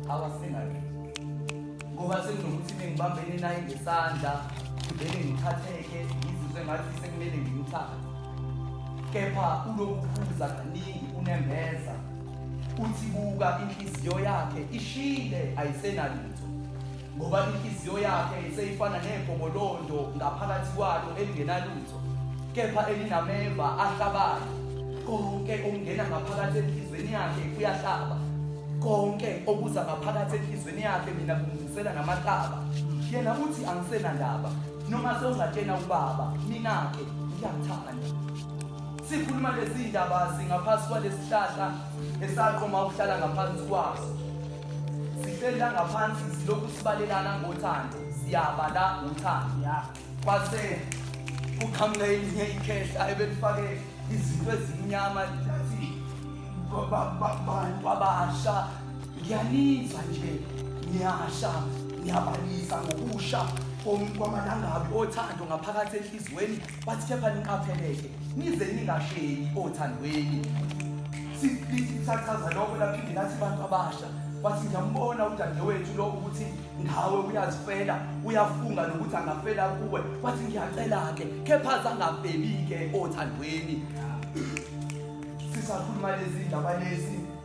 awasingathi ngoba sekunokuthi bengibambene naye ngesandla vele ngithatheke ngizizwe ngathi sekumele ngimthathe kepha ulokuphuza kaningi unembeza uthi buka inhliziyo yakhe ishile ayisenalutho Ngoba inhliziyo yakhe seyifana negobolondo ngaphakathi kwalo elingenalutho, kepha elinameva ahlabayo. Konke okungena ngaphakathi enhliziyweni yakhe kuyahlaba, konke okuza ngaphakathi enhliziyweni yakhe mina kungizisela namahlaba. Yena uthi angisenandaba, noma sewungatshena ubaba, mina-ke ngiyakuthanda. Sikhuluma lezi ndaba singaphansi kwalesi hlahla esaqoma ukuhlala ngaphansi kwaso. Sihleli la ngaphansi silokhu sibalelana ngothando, siyaba la ngothando. Ya. Kwase kuqhamuka elinye ikhehla ebelifake izinto ezimnyama lithi ba- ba- ba- bantu abasha ngiyanizwa nje niyasha niyabalisa ngokusha kom- kwamalangabi othando ngaphakathi enhliziyweni Bathi kepha niqapheleke nize ningasheli othandweni. Sifithi kusachaza lokho laphinde lathi abantu abasha wathi ngiyambona udadewethu lo ukuthi ngawe uyazifela uyafunga nokuthi angafela kuwe wathi ngiyacela-ke kepha zangabhebike othandweni sisakhuluma lezi ndaba lezi